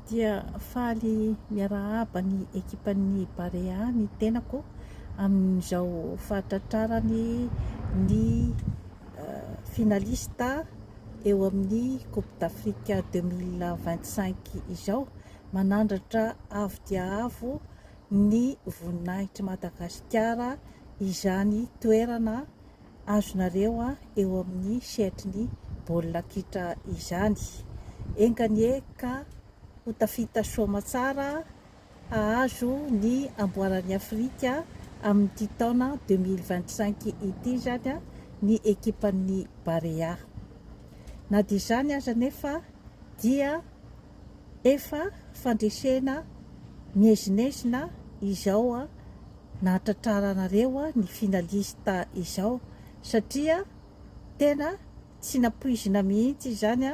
dia faly miarahaba ny ekipan'ny Barea ny tenako amin'izao fahatratrarany ny euh, finalista eo amin'ny Coupe d'Afrique 2025 izao. Manandratra avo dia avo ny voninahitr'i Madagasikara izany toerana azonareo eo amin'ny sehatry ny baolina kitra izany. Enga anie ka ho tafita soa aman-tsara hahazo ny amboaran'i Afrika amin'ity taona deux mille vingt-cinq ity izany ny ekipan'ny Barea. Na dia izany aza anefa dia. Efa fandresena miezinezina izao nahatratraranareo ny finaliste izao satria tena tsy nampoizina mihitsy izany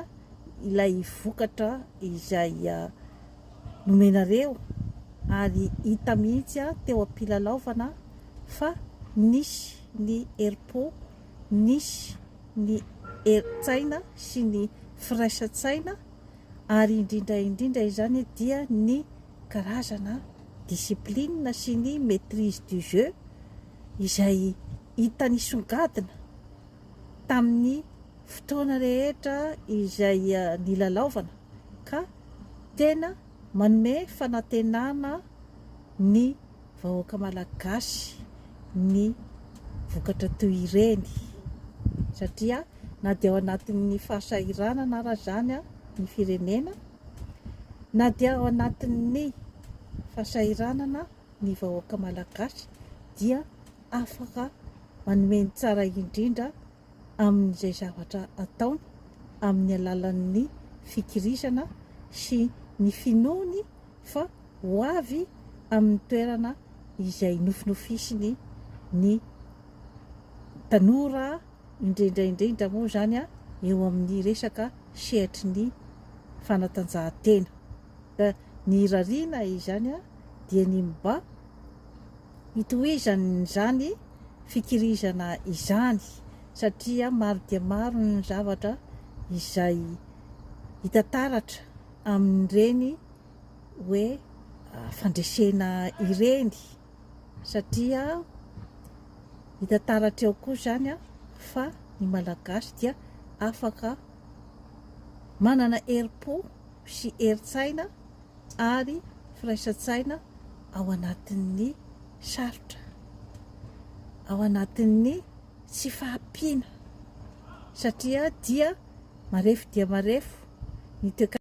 ilay vokatra izay nomenareo ary hita mihitsy teo am-pilalaovana fa nisy ny herim-po, nisy ny herin-tsaina sy ny firaisan-tsaina. ary indrindra indrindra izany dia ny karazana discipline sy ny maitrise du jeu izay hita nisongadina tamin'ny fotoana rehetra izay nilalaovana ka tena manome fanantenana ny vahoaka malagasy ny vokatra toy ireny satria na dia ao anatin'ny fahasahiranana ara izany ny firenena na dia ao anatin'ny fahasahiranana ny vahoaka malagasy dia afaka manome ny tsara indrindra amin'izay zavatra ataony amin'ny alalan'ny fikirizana sy ny finoany fa ho avy amin'ny toerana izay nofinofisiny ny tanora, indrindra indrindra moa izany eo amin'ny resaka sehatry ny fanatanjahantena. Ka ny irariana izany dia ny mba Itohizan'izany fikirizana izany satria maro dia maro ny zavatra izay hita taratra amin'ireny hoe fandresena ireny satria hita taratra eo koa izany fa ny Malagasy dia afaka manana herim-po sy herin-tsaina ary firaisan-tsaina ao anatin'ny sarotra, ao anatin'ny tsy fahampiana satria dia marefo dia marefo ny toekarena.